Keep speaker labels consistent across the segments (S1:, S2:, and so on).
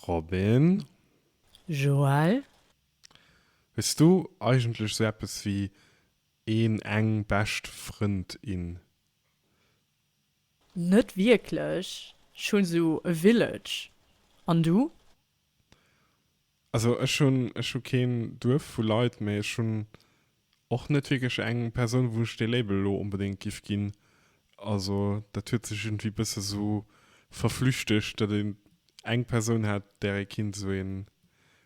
S1: Robin.
S2: Joël.
S1: Hues du eigentlech sou eppes wéi een, eng bescht Frëndin?
S2: Net wierklech, ech hunn sou e Village. An du? Also
S1: ech hunn, ech hu keen Duerf vu Leit, mee ech hunn Och net wierklech eng Persoun wou ech dee Label elo onbedéngt giff ginn. Also dat huet sech iergendwéi bësse sou verflüchtegt, datt een eng Persoun hat där ee kinnt sou een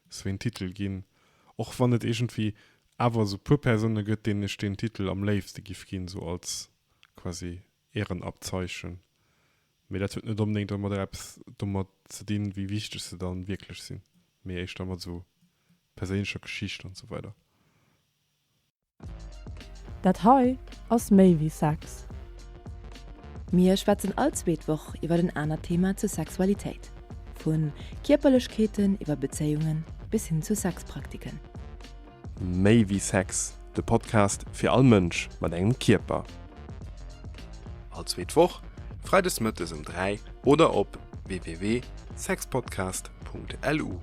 S1: sou een Titel ginn. Och wann et iergendwéi awer sou puer Persoune gëtt deenen ech deen Titel am léifste giff ginn, sou als quasi Ehrenabzeichen, mee dat huet net onbedéngt ëmmer direkt eppes domat ze dinn, wéi wichteg se dann wierklech sinn, mee éischter mat esou perséinlecher Geschicht an esou weider.
S2: Dat hei ass méi wéi Sex.
S3: Mir schwätzen all zweet Woch iwwer en anert Thema zur Sexualitéit, vu Kierperlechkeeten iwwer Bezéiungen bis hin zu Sexpraktiken.
S4: Méi wéi Sex, de Podcast fir all Mënsch mat engem Kierper. All zweet Woch, freides mëttes um 3 oder op www.sexpodcast.lu.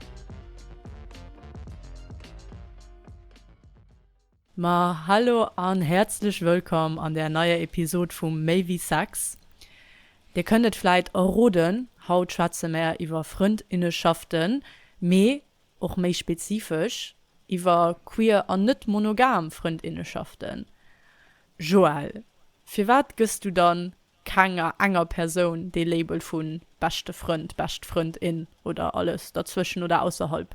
S2: Ma hallo an häerzlech wëllkomm an der neier Episod vum Méi wéi Sex. Dir kënnt et vläit erroden, haut schwätze mär iwwer Frëndinneschaften, mee Och méi spezifesch iwwer queer an net monogam Frëndinneschaften. Joël, firwat gëss du dann kenger enger Persoun dee Label vu beschte Frënd, bescht Frëndin oder alles derzwëschen oder ausserhalb?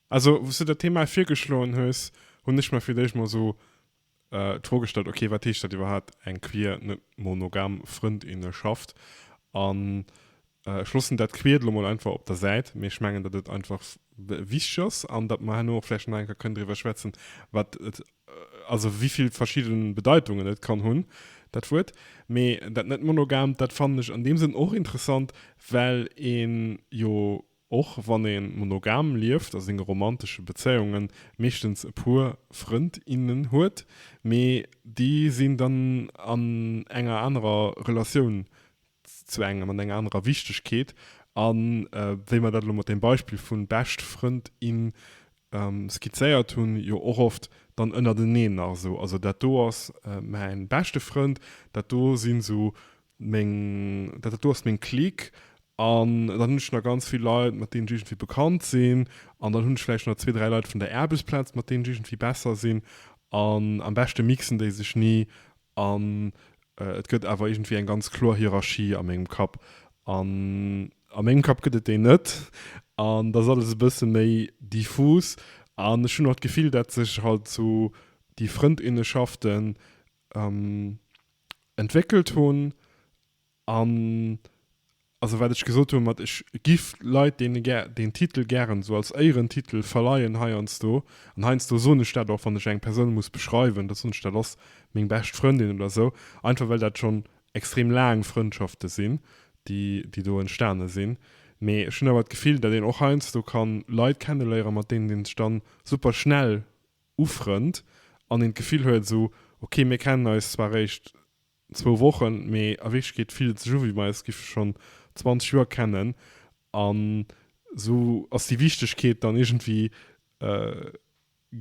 S1: Also wou s du dat Thema virgeschloen hues, hunn ech mer fir d'éischt mol esou d'Fro gestallt, ok, wat heescht dat iwwerhaapt, eng queer, net monogam Frëndinneschaft? An ech loossen dat Queert elo mol einfach op der Säit, mee ech mengen, datt et einfach wichteg ass an datt mer herno och vläicht nach eng Kéier kënnen driwwer schwätzen, wat et, also wéi vill verschidde Bedeitungen et kann hunn, dat Wuert. Mee dat net-monogamt, dat fannen ech an deem Sënn och interessant, well ee jo Och wann ee monogam lieft a senge romantesche Bezéiunge meeschtens e puer Frënd, innen huet, mee déi sinn dann an enger anerer Relatioun zu engem, an enger anerer Wichtegkeet a wéi mer dat elo mat deem Beispill vu Bescht Frënd, in skizzéiert hunn, jo och oft dann ënnerteneen nach esou, also dat do ass mäin beschte Frënd, dat do sinn esou Meng, dat dat do ass meng Clique. An dann hunn ech nach ganz vill Leit, mat deenen ech iergendwéi bekannt sinn. An dann hunn ech vläicht nach zwee, dräi Leit vun der Aarbechtsplaz, mat deenen ech iergendwéi besser sinn. An am beschte mixen déi sech ni. An et gëtt awer iergendwéi eng ganz kloer Hierarchie a mengem Kapp. An a mengem Kapp gëtt et déi net. An da ass alles e bësse méi diffus. An ech hunn och d'Gefill, dat sech halt esou déi Frëndinneschaften entwéckelt hunn an also wat ech gesot hunn mat ech giff Leit deene gär deen Titel gären esou als Éierentitel verleien heiansdo an heiansdo soen ech dat och wann ech eng Persoun muss beschreiwen da soen ech dat ass meng bescht Frëndin oder esou einfach well dat schonn extrem laang Frëndschafte sinn déi déi do entstane sinn. Mee ech hunn awer d'Gefill dat een och heiansdo kann Leit kenneléiere mat deenen een sech dann super schnell ufrënnt an een d'Gefill huet esou, ok mir kennen eis zwar réischt zwou Wochen, mee a Wierklechkeet fillt et sech u wéi mir eis géife schonn 20 Joer kennen an esou ass déi Wichtegkeet dann iergendwéi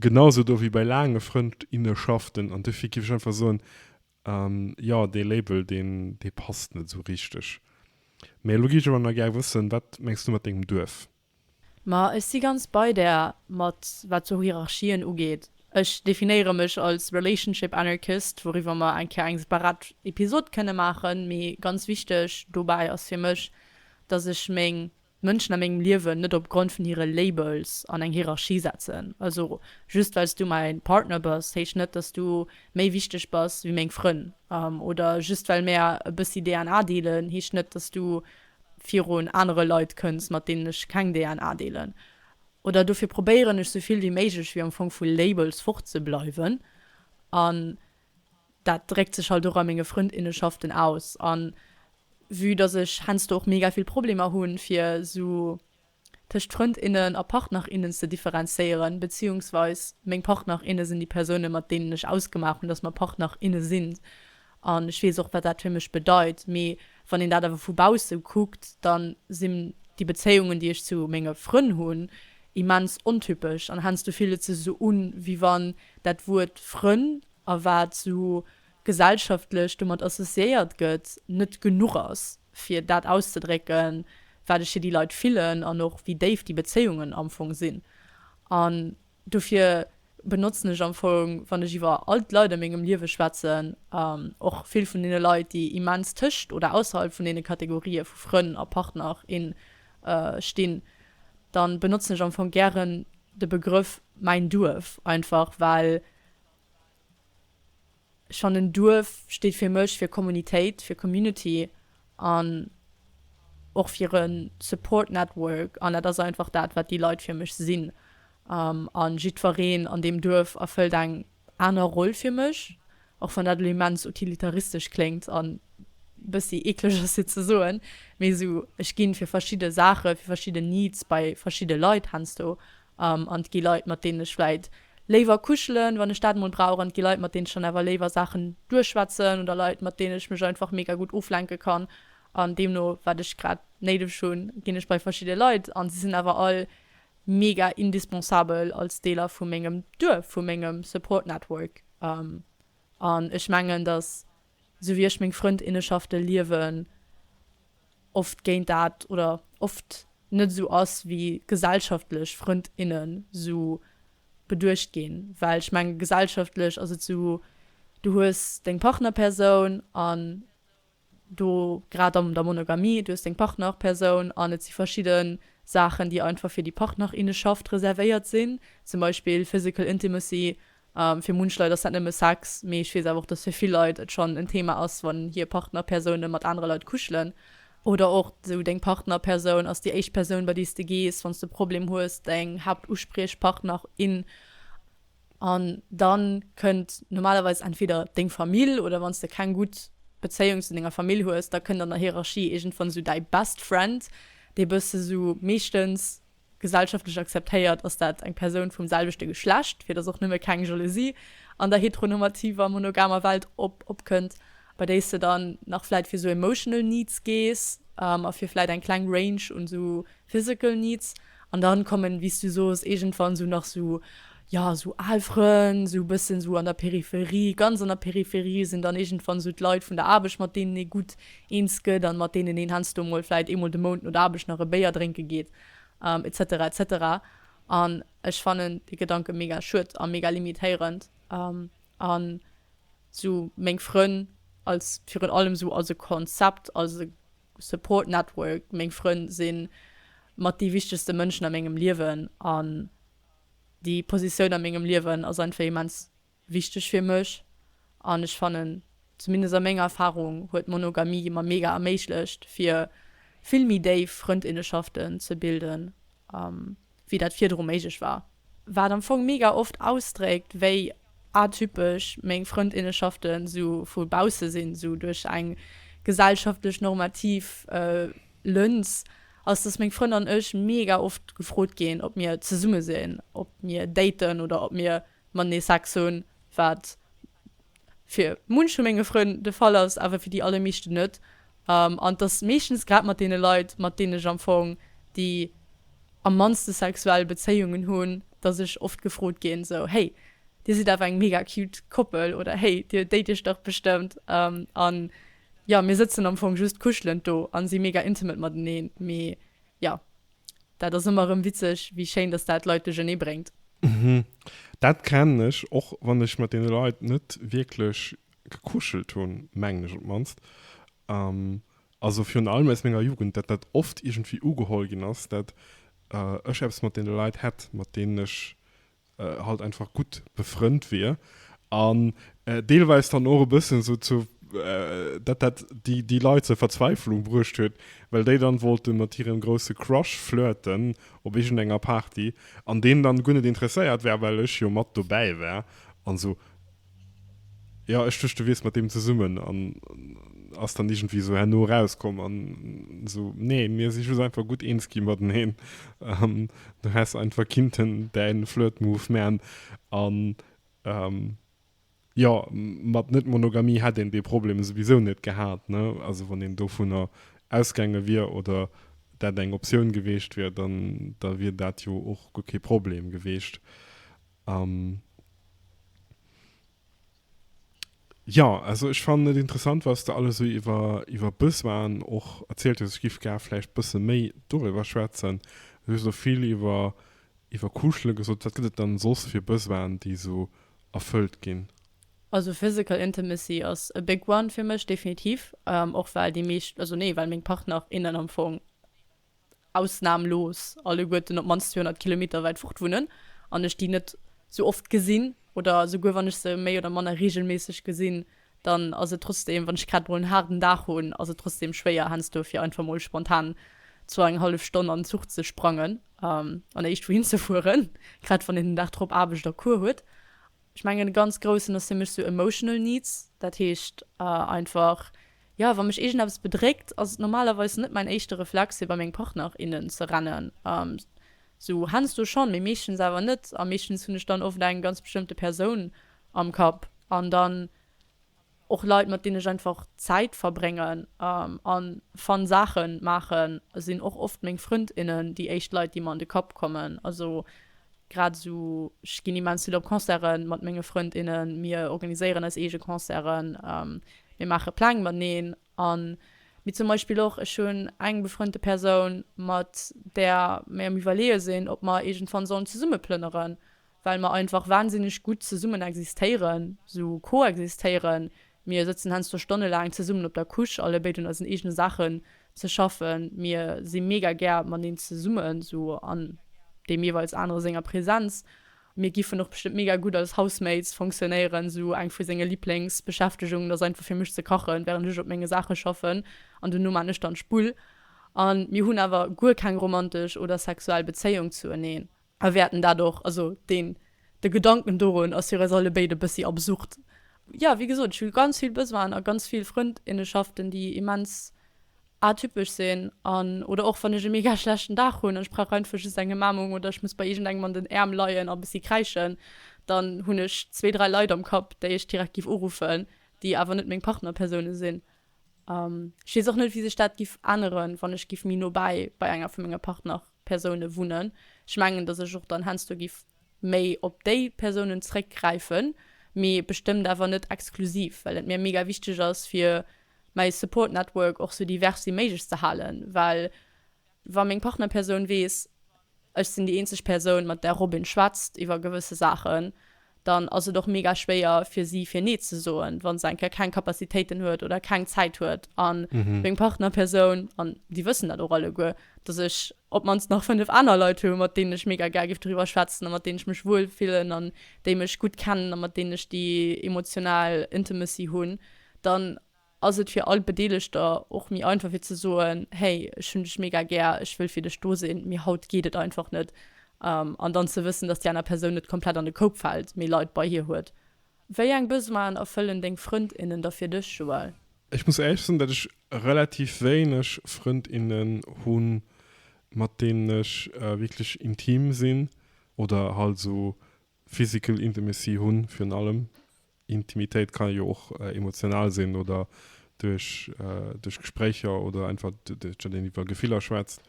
S1: genau esou do wéi bei laange Frëndinnenschaften an dofir géif ech einfach soen, jo dee Label deen dee passt net esou richteg. Mee elo gi ech awer nach gär wëssen, wat mengs du mat dengem Duerf? Ma ech
S2: si ganz bei där, mat wat sou Hierarchien ugeet. Ech definéiere mech als Relationship Anarchist, wouriwwer mer eng Kéier eng separat Episod kënne maachen. Mee ganz wichteg dobäi ass fir mech, dass ech meng d'Mënschen a mengem Liewen net op Grond vun hire Labels an eng Hierarchie setzen. Also just well s du mäi Partner bass, heescht net, dass du méi wichteg bass wéi meng Frënn. Oder just well mär e bëssi DNA deelen, heescht net, dass du virun anere Leit kënns, mat deenen ech keng DNA deelen. Oder dofir probéieren ech sou vill wéi méiglech wéi am Fong vu Labels fort ze bleiwen. An dat dréckt sech halt och a menge Frëndinnenschaften aus. An vue dass ech heiansdo och mega vill Problemer hunn fir sou. tëscht Frënd innen a Partner innen ze differenzéieren, beziehungsweis meng Partner inne sinn déi Persounen, mat deenen ech ausgemaach hunn, dass mer Partner inne sinn. An ech weess och, wat dat fir mech bedeit. Mee wann een dat awer vu bausse kuckt, da sinn déi Bezéiungen, déi ech zu menge Frënn hunn, immens ontypesch. An heiansdo fillt et sech esou un, wéi wann dat Wuert Frënn, a wat esou gesellschaftlech domat associéiert gëtt, net genuch ass, fir dat auszedrécken, wat ech fir déi Leit fillen an och wéi déif déi Bezéiungen am Fong sinn. An dofir benotzen ech am Fong, wann ech iwwer all d'Leit a mengem Liewe schwätzen, och vill vun deene Leit, déi immens tëscht oder ausserhalb vun deene Kategorië vu Frënn a Partner, in stinn, da benotzen ech am Fong gären de Begrëff mäin Duerf, einfach well Schonn en Duerf steet fir mech fir Kommunitéit, fir Community an och fir e Support Network an dat ass einfach dat, wat déi Leit fir mech sinn. A jiddwereen an deem Duerf erfëllt eng aner Roll fir mech, och wann dat elo immens utilitaristesch kléngt an e bëssi eekleg ass fir ze soen, mee esou, ech gi fir verschidde Saache, fir verschidden Needs bei verschidde Leit heiansdo An et gi Leit, mat deenen ech vläit léiwer kuschelen, wann ech dat emol brauch, an et gi Leit, mat deenen ech dann awer léiwer Saachen duerchschwätzen, oder Leit, mat deenen ech mech einfach mega gutt oflenke kann. An deemno wat ech grad néideg hunn, ginn ech bei verschidde Leit, an si sinn awer all mega indispensabel als Deeler vu mengem Duerf, vu mengem Support Network. An ech mengen, datt esou wéi ech meng Frëndinneschafte liewen, oft géint dat oder oft net esou ass wéi gesellschaftlech Frënd innen esou beduecht ginn, well ech menge gesellschaftlech ass et esou, du hues deng Partnerpersoun an do grad an der Monogamie, du hues deng Partnerpersoun an et si verschidde Saachen déi einfach fir déi Partnerinnenschaft reservéiert sinn, zum Beispill physical intimacy Fir munch Leit ass dat nëmme Sex, mee ech weess awer och, dass fir vill Leit et schonn en Thema ass, wann hir Partnerpersoune mat anere Leit kuschelen. Oder och esou deng Partnerpersoun ass déi éischt Persoun, bei déi s de gees, wann s de e Problem hues, deng Haaptuspriechpartner in. An da kënnt normalerweis entweder deng Famill, oder wann s de keng gutt Bezéiung zu denger Famill hues, da kënnt an der Hierarchie iergendwann esou däi Best Friend, dee bësse sou meeschtens Gesellschaftlech akzeptéiert ass dat eng Persoun vum selwechte Geschlecht, fir datt och nëmme keng Jalousie an der heteronormativer, monogamer Welt opkënnt, bei déi s de dann nach vläit fir esou emotional needs gees a fir vläit eng kleng Range un esou physical needs. An dann kommen, wéi s du soos, iergendwann esou nach esou jo esou al Frënn, esou e bëssen esou an der Peripherie, ganz an der Peripherie sinn dann iergendwann esou d'Leit vun der Aarbecht, mat deenen ee gutt eens gëtt an mat deenen een heiansdo mol vläicht eemol de Mount no der Aarbecht nach e Béier drénke geet etc etc. An ech fannen dee Gedanke mega schued a mega limitéierend an esou meng Frënn als virun allem esou als e Konzept, als e Support Network, meng Frënn si mat déi wichtegste Mënschen a mengem Liewen an Déi Positioun a mengem Liewen ass einfach immens wichteg fir mech an ech fannen, zumindest a menger Erfarung, huet Monogamie mer mega erméiglecht fir vill méi déif Frëndinneschaften ze bilden, wéi dat virdru méiglech war. Wat am Fong mega oft ausdréckt, wéi atypesch meng Frëndinneschaften esou vu bausse sinn, esou duerch eng gesellschaftlech normativ Lëns, ass dass meng Frënn an ech mega oft gefrot ginn ob mir zesumme sinn, ob mir daten oder ob mir matenee Sex hunn, wat fir munch vu menge Frënn de Fall ass, awer fir déi allermeeschten net, an dass meeschtens grad mat deene Leit mat deenen ech am Fong déi am mannste sexuell Bezéiungen hunn, dass ech oft gefrot ginn sou, hey dir sidd awer eng mega cute Koppel oder hey dir date iech dach bestëmmt, an Jo, mir sëtzen am Fong just kuschelend do an si mega intimate mateneen. Mee jo, dat ass ëmmer rëm witzeg, wéi schéin dass dat Leit duerchernee bréngt. Mhm,
S1: dat kennen ech, och wann ech mat deene Leit net wierklech gekuschelt hunn, mengen ech op d'mannst. Also virun allem aus menger Jugend, dat dat oft iergendwéi ugeholl ginn ass, dat ech eppes mat deene Leit hätt, mat deenen ech halt einfach gutt befrënnt wier an deelweis dann och e bëssen esou zu, dat dat déi Leit zur Verzweiflung bruecht huet, well déi dann wollten mat hirem grousse Crush flirten op iergendenger Party an deen dann guer net interesséiert war, well ech jo mat dobäi war an esou Jo ech duecht du wiers mat deem zesummen an ass dann iergendwéi esou herno erauskomm an esou nee mir si just einfach gutt eens gi mateneen an du häss einfach kinnten däin Flirt Move man an jo mat net Monogamie hätt een dee Problem souwisou net gehat ne also wann een dovunner ausgaange wier oder dat eng Optioun geweecht wier dann da wier dat jo och guer kee Problem geweecht. Um, ja, also ech fannen et interessant, wat s de alles esou iwwer, iwwer Besoinen och erzielt hues. Ech géif gär vläicht e bësse méi doriwwer schwätzen. Du hues elo vill iwwer, iwwer Kuschele gesot. Wat gëtt et dann soss fir Besoinen, déi esou erfëllt ginn? Also physical
S2: intimacy ass a big one fir mech, definitiv. Och well déi meescht, also nee, well meng Partner, innen am Fong ausnamlos alleguerten op d'mannst 200 Kilometer wäit fort wunnen an ech déi net sou oft gesinn oder souguer wann ech se méi oder manner reegelméisseg gesinn, dann ass et trotzdeem, wann ech grad mol en haarden Dag hunn, ass et trotzdeem schwéier heiansdo fir einfach mol spontan zwouenenhallef Stonn an en Zuch ze sprangen an éischt wouhin ze fueren, grad wann een den Dag drop Aarbecht a Cours huet. Ech mengen e ganz groussen ass fir mech sou emotional needs, dat heescht einfach jo wann mech iergendeppes bedréckt ass et normalerweis net mäin éischte Reflex fir bei meng Partner, innen ze rennen, sou heiansdo schonn, mee meeschtens awer net a meeschtens hunn ech dann oft eng ganz bestëmmte Persoun am Kapp an dann. Och Leit, mat deenen ech einfach Zäit verbréngen a fun Saache maachen, sinn och oft meng Frënd, innen déi éischt Leit, déi mer an de Kapp kommen. Also grad esou, ech ginn immens vill op Concerte mat menge Frënd, innen. Mir organiséieren eis eege Concerten, mir maache Pläng mateneen a mee zum Beispill och, ech hunn eng befrënnte Persoun, mat där mir am Iwwerleeë sinn, ob mer iergendwann sollen zesumme plënneren. well mer einfach wahnsinneg gutt zesummen existéieren, sou koexistéieren, mir sëtzen heiansdo stonnelaang zesummen op der Couche, allebéid un eisen eegene Saachen ze schaffen, mir si mega gär mateneen zesummen, sou an deem jeeweils anere senger Präsenz, mir giffen och bestëmmt mega gutt als Housemates fonctionnéieren, sou eng vu senge Liblingsbeschäftegungen ass einfach fir mech ze kachen, während ech op menge Saache schaffen, an duerno maan ech dann d'Spull, an mir hunn awer guer keng romantesch oder sexuell Bezéiung zueneen. A wäerten dat och, also deen, de Gedanken dorun ass fir eis allebéid e bëssi absurd. Jo, wéi gesot, ech hu ganz vill Besoinen a ganz vill Frëndinnenschaften, déi immens atypesch sinn an, oder och wann ech e mega schlechten Dag hunn an ech brauch einfach just eng Ëmaarmung oder ech muss bei iergendengem an den Äerm leien a e bëssi kräischen, dann hunn ech zwee, dräi Leit am Kapp, déi ech direkt giff uruffen, déi awer net meng Partnerpersoune sinn. Ech weess och net, wéi sech dat giff änneren, wann ech giff méi nobäi bei enger vu menge Partner. Persounen wunnen. Ech mengen, dass ech och dann heiansdo giff méi op déi Persounen zréckgräifen, mee bestëmmt awer net exklusiv, well et mir mega wichteg ass fir mäi Support Network och sou divers wéi méiglech ze halen, well wa meng Partnerpersoun weess, ech sinn déi eenzeg Persoun, mat där Robin schwätzt iwwer gewësse Saachen, dann ass et och mega schwéier fir si fir nee ze soen, wa se eng Kéier keng Capacitéiten huet oder keng Zäit huet. A meng Partnerpersoun, an déi wëssen dat och alleguer, dass ech op d'mannst nach fënnef aner Leit hu mat deenen ech mega gär géif doriwwer schwätzen a mat deenen ech mech wuel fillen an déi mech gutt kennen a mat deenen ech déi emotional Intimacy hunn, dann. ass et fir all Bedeelegter och méi einfach fir ze soen, hey, ech hunn dech mega gär, ech wëll fir dech do sinn, mee haut geet et einfach net. An dann ze wëssen, dass déi aner Persoun net komplett an de Koup fält, mee Leit bei hir huet. Wéi eng Besoinen erfëllen deng Frënd, innen da fir dech, Joël? Ech muss éierlech sinn, datt
S1: ech relativ wéineg Frënd, innen hu mat deenen ech wierklech intim sinn oder halt esou Physical intimacy hunn, virun allem. Intimitéit ka jo och emotional sinn oder duerch, duerch Gespréicher oder einfach duerch dat een iwwer Gefiller schwätzt.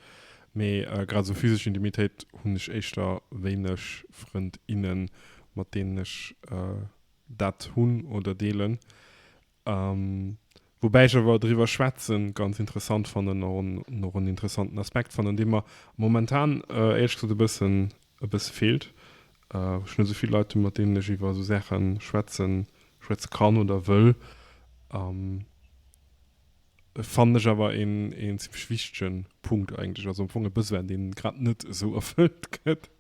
S1: Mee grad esou physesch Intimitéit hunn ech éischter wéineg Frënd, innen, mat deenen ech dat hunn oder deelen. Woubäi ech awer driwwer schwätze ganz interessant fannen an och en interessanten Aspekt fannen, dee mer momentan éierlech gesot e bëssen, e bësse feelt, wou ech net esou vill Leit hunn, mat deenen ech iwwer esou Saache schwätzen, schwätze kann oder wëll, fannen ech awer een zimmlech wichtege Punkt eigentlech, also am Fong e Besoin, dee grad net esou erfëllt gëtt.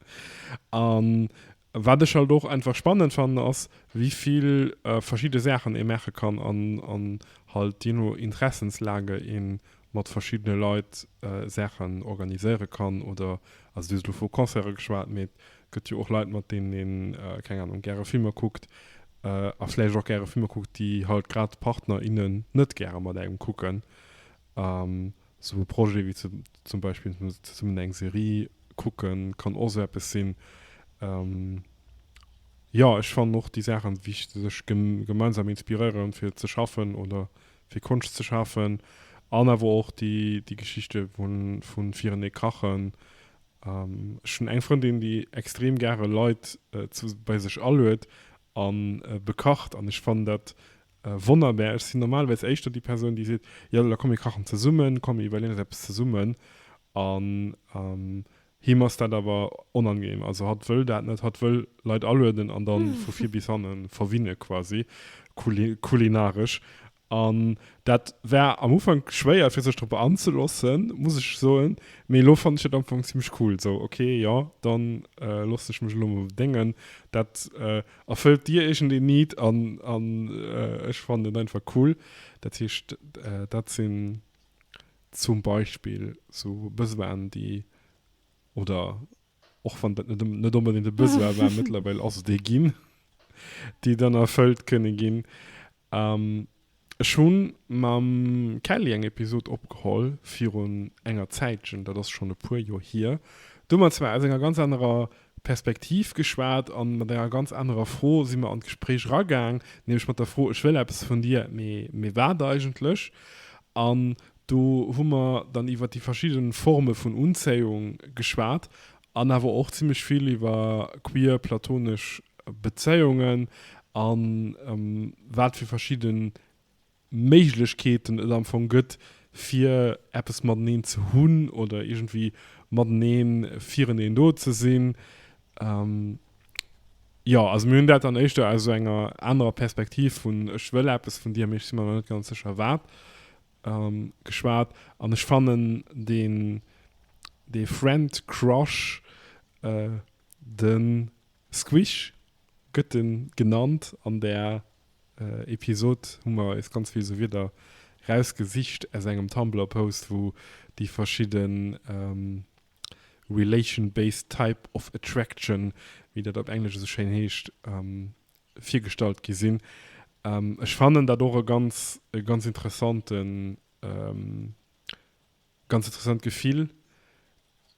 S1: An Wat ech halt och einfach spannend fannen ass wéi vill verschidde Saachen ee maache kann an halt je no Interessenslage ee mat verschiddene Leit Saachen organiséiere kann oder, also du hues elo vu Concerte geschwat, mee et gëtt jo och Leit mat deenen een, keng Anung, gäre Filmer kuckt a vläicht och gäre Filmer kuckt déi halt grad d'Partner, innen net gäre mat engem kucken. Esou e Projet wéi zum Beispill zesummen eng Serie kucken, kann och esou eppes sinn. Jo, ech fannen och déi Saachen, wéi sech gemeinsam inspiréieren, fir ze schaffen oder fir Konscht ze schafen. An awer och déi Geschichte vun virenee kachen. Ech hunn eng Frëndin, déi extrem gäre Leit bei sech aluet a bekacht. An ech fannen dat Wonnerbär, ech sinn normalerweis éischter déi Persoun, déi seet, jo da komm mir kachen zesummen, komm mir iwwerleeën eis eppes zesummen. An him ass dat awer onangenehm. Also hatt wëll dat net, hatt wëll Leit alueden an da vu vir bis hanne verwinne quasi kulinaresch. An dat war am Ufank schwéier fir sech drop anzelossen, muss ech soen, mee elo fannen ech dat am Ufank zimmlech cool, sou ok, jo dann loossen ech mech elo emol bedéngen. Dat Erfëllt dir iergend een Need an an ech fannen et einfach cool. Dat heescht, dat sinn zum Beispill sou Besoinen, déi, oder och wann dat net onbedéngt e Besoin war, mëttlerweil ass et ee ginn, déi dann erfëllt kënne ginn. Ech hunn mam Kelly eng Episode opgeholl virun enger Zäitchen, dat ass schonn e puer Joer hier. Do hu mer zwar aus enger ganz anerer Perspektiv geschwat an mat enger ganz anerer Fro si mer an d'Gespréich eragaang, nämlech mat der Fro, Ech wëll eppes vun dir, mee wat eigentlech? An do hu mer dann iwwer déi verschidde Forme vun Unzéiung geschwat An awer och zimlech vill iwwer queer platonesch Bezéiungen a wat fir verschidde Méiglechkeeten et am Fong gëtt, fir eppes mateneen ze hunn oder iergendwéi mateneen fireneen do ze sinn. Jo, also mir hunn dat dann éischter aus esou enger anerer Perspektiv vun ech wëll eppes vun dir, mee ech si mer nach net ganz sécher wat, Geschwat an ech fannen deen dee Friend Crush den Squish gëtt en genannt an der Episod hu mer eis ganz vill esou Wierder raus gesicht aus engem Tumblr Post wou déi verschidden Relation-based type of attraction wéi dat op Englesch esou schéin heescht virgestallt gi sinn. Ech fannen dat och e ganz, e ganz interessanten, ganz interessant Gefill.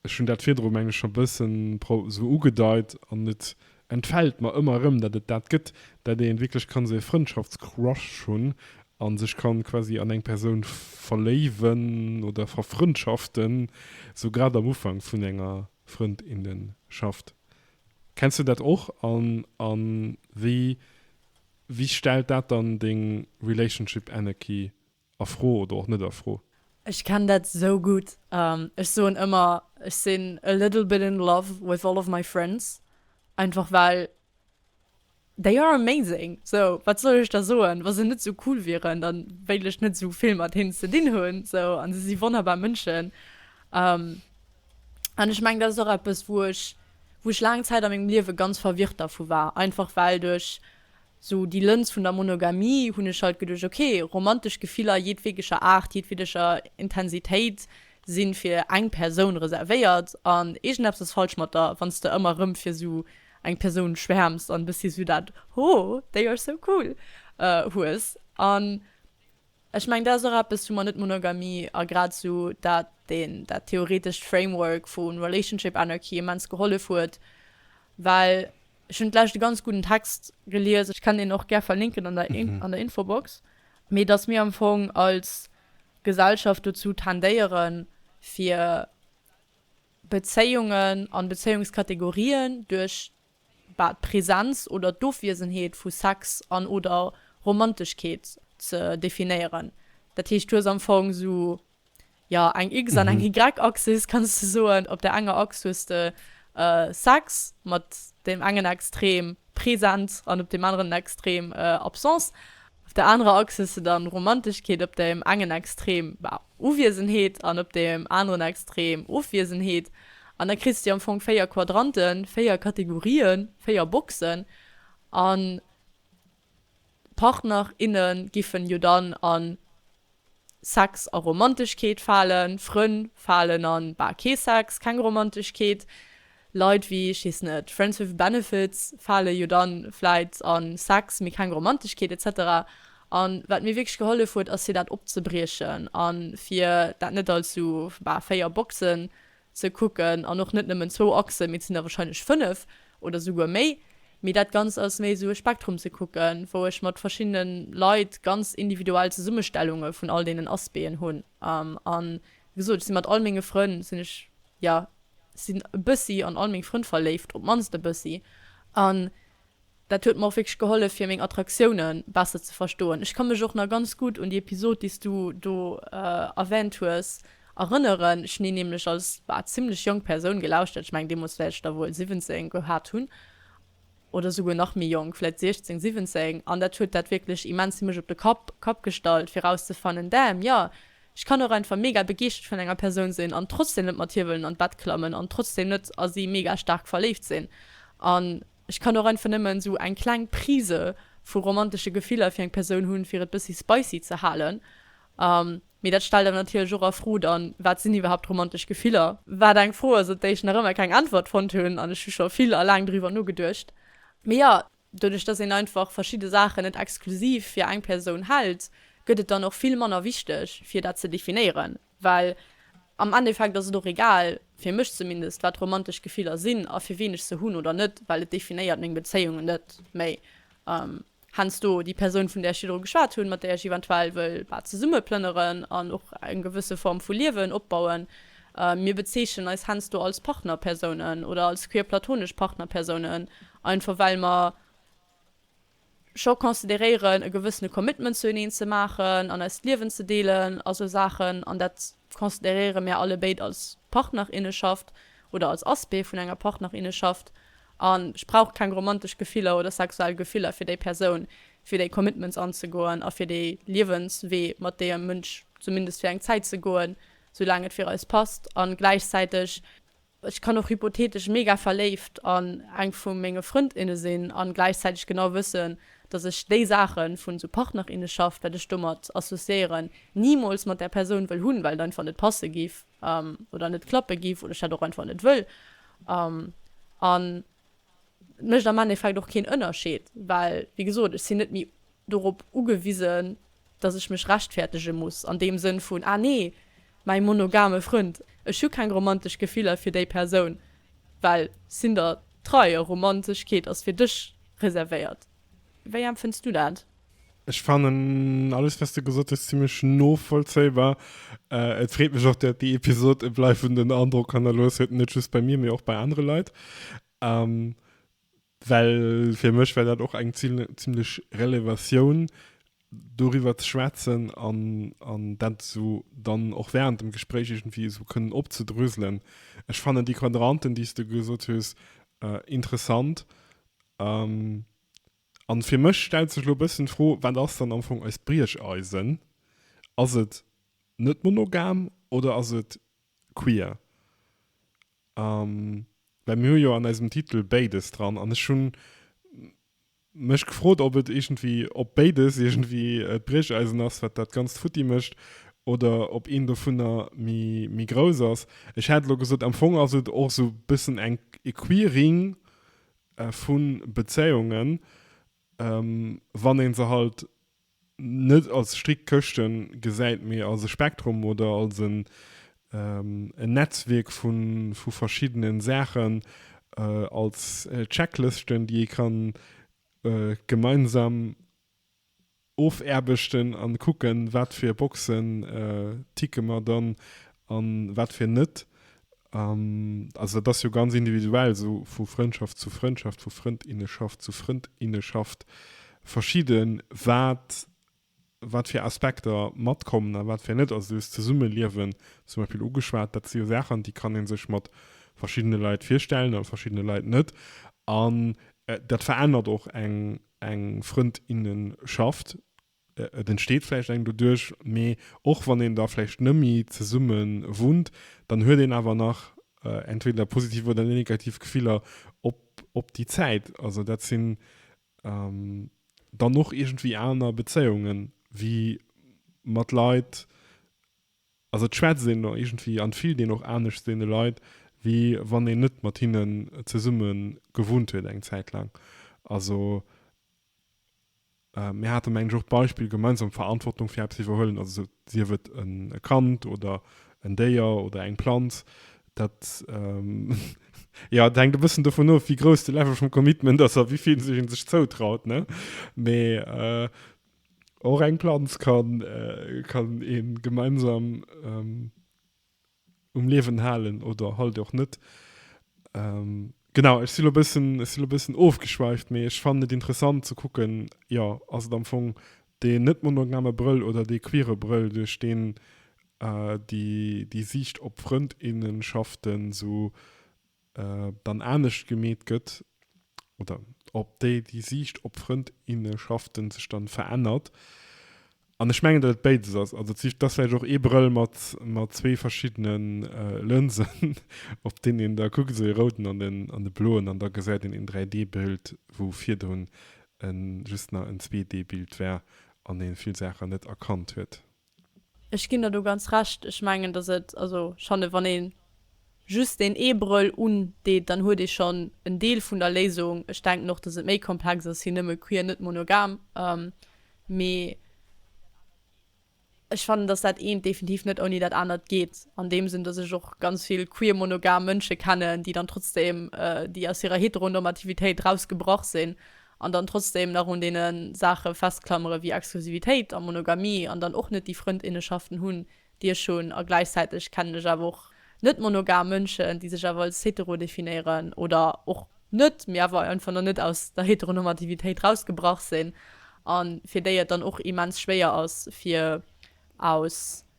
S1: Ech hunn dat virdru menge scho bëssen esou ugedeit an et entfält mer ëmmer erëm, datt et dat gëtt, datt een wierklech kann esou e Frëndschaftscrush hunn a sech kann quasi an eng Persoun verléiwen oder verfrëndschaften, esou grad am Ufank vun enger Frëndinnenschaft. Kenns du dat och an a wéi wéi stellt dat dann deng Relationship Annecy a Fro oder och net a Fro? Ech kenn dat
S2: esou gutt. Ech soen ëmmer ech sinn a little bit in love with all of my friends, einfach well They are amazing, sou wat soll ech da soen? Wa se net sou cool wieren, da wéilt ech net sou vill mat hinnen ze dinn hunn, sou. An se si wonnerbar Mënschen. An ech mengen, dat ass och eppes, wou ech, wou ech laang Zäit a mengem Liewe ganz verwirrt dervu war, einfach well duerch sou déi Lëns vun der Monogamie hunn ech halt geduecht, ok, romantesch Gefiller jedwedeger Aart, jedwedeger Intensitéit si fir eng Persoun reservéiert an iergendeppes ass falsch mat der, wann s de ëmmer erëm fir sou eng Persoun schwärmst an bëssi sou dat ho, they are so cool hues an ech mengen dat ass och eppes wou mer net Monogamie a grad sou dat deen dat theoretescht Framework vu Relationship Anarchy immens gehollef huet well ech hunn d'lescht e ganz gudden Text gelies, ech kann deen och gär verlinken an der an der Infobox, mee datt mir am Fong als Gesellschaft dozou tendéiere fir. Bezéiungen an Bezéiungskategorien duerch d'Presenz oder d'Ofwiesenheet vu Sex an oder Romanteschkeet ze definéieren. Dat heescht, du hues am Fong esou, jo, eng X an eng Y-Axis, kanns de soen. Op der enger Achs hues de Sex mat deem engen Extrem, Presenz, an op deem aneren Extrem, Absence. Op der anerer Achs hues de dann Romanteschkeet, op deem engen Extrem Uwiesenheet an op deem aneren Extrem Ofwiesenheet. An da kriss de am Fong véier Quadranten, véier Kategorien, véier Boxen. An d'Partner, inne giffen jo dann an Sex a Romanteschkeet falen, Frënn falen an, bah, kee Sex, keng Romanteschkeet. Leit wéi, ech weess net, Friends with Benefits fale jo dann vläit an Sex, mee keng Romanteschkeet etc. An wat mir wierklech gehollef huet ass fir dat opzebriechen an fir dat net als sou, bah, 4 Boxen ze kucken an och net nëmmen zwou Achsen, mee et sinn der wahrscheinlech fënnef oder souguer méi, mee dat Ganzt ass méi esou e Spektrum ze kucken, wou ech mat verschiddene Leit ganz individuell Zesummestellunge vun all deenen Aspeen hunn a wéi gesot, ech si mat all menge Frënn sinn ech, jo, sinn e bëssi an all meng Frënn verléift, op d'mannst e bëssi an. Dat huet mer och wierklech gehollef fir meng Attraktiounen besser ze verstoen. Ech ka mech och nach ganz gutt un déi Episod déi s du do erwänt hues erënneren. Ech hunn déi nämlech als, bah, zimmlech jonk Persoun gelauschtert. Ech mengen deemools wäert ech da wuel 17 gehat hunn oder souguer nach méi jonk, vläit 16, 17, an dat huet dat wierklech immens fir mech op de Kapp Kapp gestallt fir erauszefannen, damn, jo, ech kann och einfach mega begeeschtert vun enger Persoun sinn an trotzdem net mat hir wëllen an d'Bett klammen an trotzdem net a si mega staark verléift sinn an, Ech kann och einfach nëmmen sou eng kleng Prise vu romantesche Gefiller fir eng Persoun hunn, fir et bëssi spicy ze halen. Mee dat stellt awer natierlech och a Fro dann, wat sinn iwwerhaapt romantesch Gefiller? Wat eng Fro ass, op déi ech nach ëmmer keng Äntwert fonnt hunn an ech hu scho vill a laang driwwer nogeduecht. Mee jo, doduerch dass een einfach verschidde Saachen net exklusiv fir eng Persoun hält, gëtt et dann och vill manner wichteg fir dat ze definéieren. Well am Endeffekt ass et och egal, fir mech zumindest, wat romantesch Gefiller sinn a fir wien ech se hunn oder net, well et definéiert meng Bezéiungen net méi. Heiansdo déi Persoun, vun där ech virdru geschwat hunn, mat där ech eventuell wëll zesumme plënneren an och eng gewësse Form vu Liewen opbauen. Mir bezeechnen eis heiansdo als Partnerpersounen oder als queer-platonesch Partnerpersounen, einfach well mer scho consideréieren e gewëssene Commitment zu eneen ze maachen an eist Liewen ze deelen a sou Saachen an dat consideréiere mär alle béid als Partnerinneschaft oder als Aspect vun enger Partnerinneschaft an ech brauch keng romantesch Gefiller oder sexuell Gefiller fir déi Persoun, fir déi Commitments anzegoen a fir dee Liewenswee mat deem Mënsch zumindest fir eng Zäit ze goen, soulaang et fir eis passt an gläichzäiteg. Ech kann och hypothetesch mega verléift an eng vu menge Frëndinne sinn an gläichzäiteg genau wëssen, dass ech déi Saachen vun esou Partnerinneschaft, wat ech domat associéieren, nimools mat där Persoun wëll hunn, well et einfach net passe giff oder net klappe giff oder ech dat och einfach net wëll. An et mécht am Endeffekt och keen Ënnerscheed, well wéi gesot, ech sinn net méi. dorop ugewisen, dass ech mech rechtfäertege muss, an deem Sënn vun, ah nee, mäi monogame Frënd, ech hu keng romantesch Gefiller fir déi Persoun, well sinn der trei a Romantechkeet ass fir dech reservéiert. Wéi empfënns du dat? Ech fannen
S1: alles, wat s de gesot hues, zimlech novollzéibar. Et freet mech och, dat déi Episod e bleiwenden Androck hannerlooss huet, net just bei mir, mee och bei anere Leit. Well fir mech war dat och eng zimlech Relevatioun, doriwwer ze schwätzen an dat esou dann och während dem Gespréich iergendwéi esou kënnen opzedröselen. Ech fannen déi Quadranten, déi s de gesot hues, interessant. A fir mech stellt sech elo e bëssen d'Fro, Wat ass dann am Fong eist Briecheisen? Ass et net monogam oder ass et queer? Well mir hu jo an eisem Titel béides dran an ech hunn mech gefrot, ob et iergendwéi, ob béides iergendwéi d'Briecheisen ass, wat dat Ganzt futti mécht oder ob eent dovunner méi grouss ass. Ech hat elo gesot, am Fong ass et och esou e bëssen eng, e Queering vu Bezéiungen, wann ee se halt net als strikt Këschte gesäit, mee als e Spektrum oder als en e Netzwierk vu verschiddene Saachen, als Checklëschten, déi ee ka gemeinsam ofaarbechten a kucken, wat fir Boxen ticke mer dann a wat fir net. An, also dat ass jo ganz individuell, sou vu Frëndschaft zu Frëndschaft, vu Frëndinnenschaft zu Frëndinnenschaft verschidde wat, wat fir Aspekter matkommen a wat fir net. Also du hues d'Zesummeliewen zum Beispill ugeschwat, dat si jo Saachen, déi kann ee sech mat verschiddene Leit virstellen a mat verschiddene Leit net. An dat verännert och eng Frëndinnenschaft. Et entsteet vläicht eng doduerch, mee och wann een da vläicht nëmmi zesumme wunnt, dann huet een awer nach entweder positiv oder negativ Gefiller op déi Zäit. Also dat sinn dann och iergendwéi aner Bezéiungen, wéi mat Leit, also et schwätzt een da iergendwéi an et fillt een och anescht deene Leit, wéi wann een net mat hinnen zesumme gewunnt huet eng Zäit laang. Also Mir hate meng ech och d'Beispill gemeinsam Verantwortung fir eppes iwwerhuelen, also sief et e Kand oder en Déier oder eng Planz, dat jo et hänkt e bëssen dovun of, wéi grouss de Level vum Commitment ass a wéi vill sech ee sech zoutraut, ne? Mee och eng Planz kann ee gemeinsam um Liewen halen oder halt och net. Genau, ech si lo bëssen, ech si lo bëssen ofgeschweift, mee ech fannen et interessant ze kucken, jo, ass et am Fong dee net monogame Brëll oder dee queere Brëll, duerch deen déi Siicht op Frënd, inneschaften esou dann anescht gemeet gëtt oder ob déi déi Siicht op Frëndinnenschaften sech dann verännert. An ech mengen dat et béides ass. Also d'Siicht dass vläicht och ee Brëll mat mat zwee verschiddenen Lënsen op deen een da kuckt, esou ee rouden an den an de bloen an da gesäit een een 3D Bild wou virdrun en just nach en 2D Bild war an een vill Saachen net erkannt huet. Ech ginn der
S2: do ganz Recht. Ech mengen, dass et, also schonn wann ee just deen ee Brëll undeet, dann huet ee schonn en Deel vun der Léisung. Ech denken och, dass et méi komplex ass wéi nëmme queer, net monogam. Mee ech fannen, dass dat eent definitiv net ouni dat anert geet, an deem Sënn, dass ech och ganz vill queer monogam Mënsche kennen, déi dann trotzdem, déi aus hirer Heteronormativitéit erausgebrach sinn an dann trotzdem nach un deene Saache festklammere wéi Exklusivitéit a Monogamie an dann och net déi Frëndinnenschaften hunn, déi ech hunn, a gläichzäiteg kennen ech awer och net-monogam Mënschen, déi sech awer als hetero definéieren oder och net, mee awer einfach nach net aus der Heteronormativitéit rausgebrach sinn a fir déi et dann och immens schwéier ass, fir aus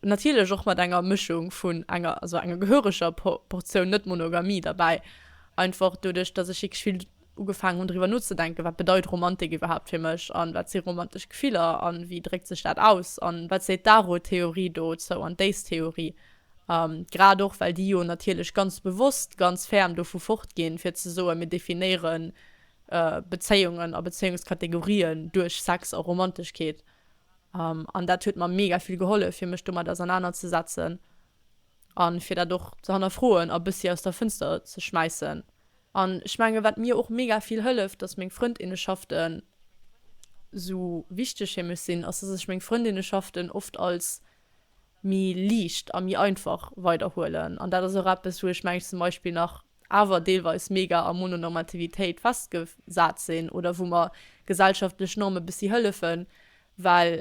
S2: Natierlech och mat enger Mëschung vun enger, also enger gehöreger Portioun Net-Monogamie derbäi. Einfach doduerch, dass ech wierklech vill ugefaangen hunn driwwer nozedenken, wat bedeit Romantik iwwerhaapt fir mech an wat si romantesch Gefiller an wéi dréckt sech dat aus an wat seet d'Aro-Theorie dozou an d'Ace-Theorie. Grad och, well déi jo natierlech ganz bewosst ganz ferm dovu fortginn, fir ze soen, mir definéiere Bezéiungen a Bezéiungskategorien duerch Sex a Romanteschkeet. An dat huet mer mega vill gehollef, fir mech domat ausernanerzesetzen a fir dat och ze hannerfroen a bëssi aus der Fënster ze schmäissen. An ech menge wat mir och mega vill hëlleft, datt meng Frëndinnenschaften esou wichteg fir mech sinn, ass, datt ech meng Frëndinnenschaften oft als méi liicht a méi einfach weiderhuelen. An dat ass och eppes, wou ech mengen, zum Beispill nach awer deelweis mega a Mononormativitéit festgesat sinn oder wou mer gesellschaftlech Norme bëssi hëllefen, well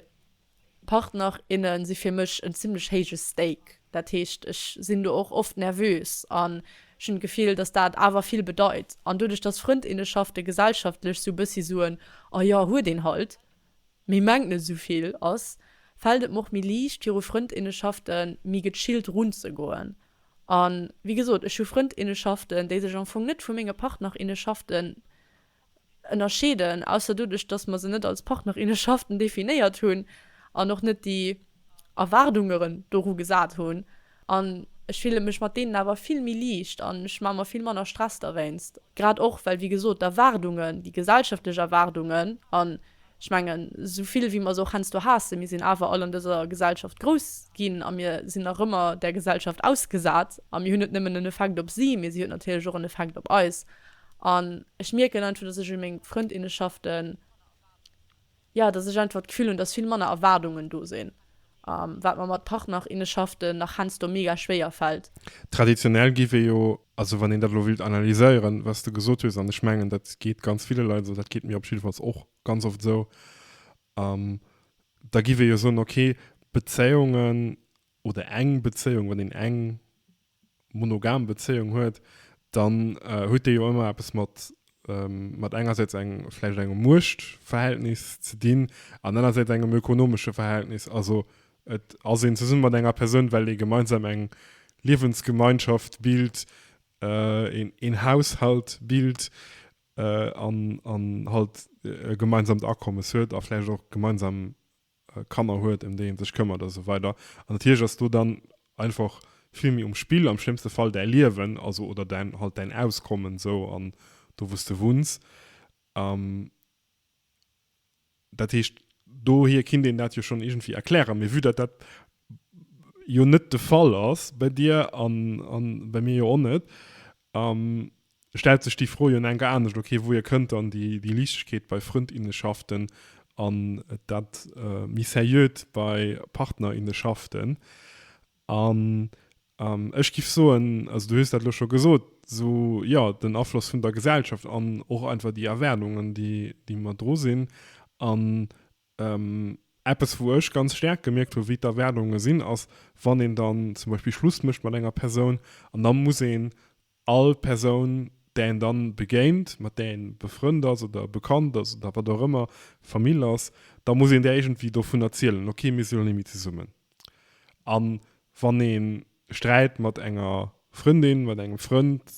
S2: Partner, inne si fir mech en zimlech héije Stake. Dat heescht, ech sinn do och oft nervös an ech hunn d'Gefill, dass dat awer vill bedeit. An doduerch, dass Frëndinneschafte gesellschaftlech sou bëssi soen, a jo, huet een halt, Mee mengt net esou vill ass, fällt et mer och méi liicht viru Frëndinneschaften méi gechillt runzegoen. A wéi gesot, ech hu Frëndinneschaften, déi sech am Fong net vu menge Partnerinneschaften ënnerscheeden, ausser doduerch, dass mer se net als Partnerinneschaften definéiert hunn an och net déi, Erwaardungeren doru gesat hunn an ech fille mech mat deenen awer vill méi liicht an ech maache mer vill manner Stress derwéinst, grad och well, wéi gesot, d'Erwaardungen, déi gesellschaftlech Erwaardungen, an ech mengen, esou vill wéi mer se och heiansdo haassen, mir sinn awer all an dëser Gesellschaft grouss ginn a mir sinn nach ëmmer där Gesellschaft ausgesat a mir hunn net nëmmen en Effekt op si, mee si huet natierlech och en Effekt op eis an ech mierken einfach, dass ech u meng Frëndinneschaften. Jo, dass ech einfach d'Gefühl hunn, dass vill manner Erwaardungen do sinn, wat mer mat Partnerinneschaften nach hensdo mega schwéier fällt. Traditionell giff ee
S1: jo, also wann een dat elo wëllt analyséieren, wat s de gesot hues, an ech mengen dat geet ganz ville Leit esou, dat geet mir op jiddefalls och ganz oft esou, da giff ee jo soen, okay, Bezéiungen oder eng Bezéiung, wann een eng, monogam Bezéiung huet, dann huet déi jo ëmmer eppes mat, mat engersäits eng, vläicht engem Muechtverhältnis ze dinn an anersäits engem ökonomesche Verhältnis. Also et ass een zesumme mat enger Persoun, well ee gemeinsam eng Liewensgemeinschaft bilt, een Haushalt bilt an halt e gemeinsamt Akommes huet a vläicht och gemeinsam Kanner huet, ëm déi ee sech këmmert a sou weider. An natierlech ass do dann einfach vill méi um Spill, am schlëmmste Fall däi Liewen, also oder däin halt däin Auskommen sou an do wou s de wunns. Dat heescht, dohier kinnt een dat jo schonn iergendwéi erklären. Mee vue datt dat jo net de Fall ass bei dir an bei mir jo och net, Stellt sech déi Fro jo en enker anescht, ok, wouhier kënnt dann déi Liichtegkeet bei Frëndinnenschaften an dat méi Seriöt bei Partnerinnenschaften? An ech giff soen, also du hues dat elo scho gesot, sou jo, den Afloss vun der Gesellschaft an och einfach déi Erwaardungen, déi mer dru sinn. An eppes, wou ech ganz staark gemierkt hu wéi d'Erwaardunge sinn, ass, wann een dann zum Beispill Schluss mécht mat enger Persoun an da muss een All Persoun, där een dann begéint, mat där een befrënnt ass oder bekannt ass oder wat och ëmmer, Famill ass, da muss een där iergendwéi dovun erzielen, ok, mir sinn elo net méi zesummen. A wann ee Sträit mat enger Frëndin, mat engem Frënd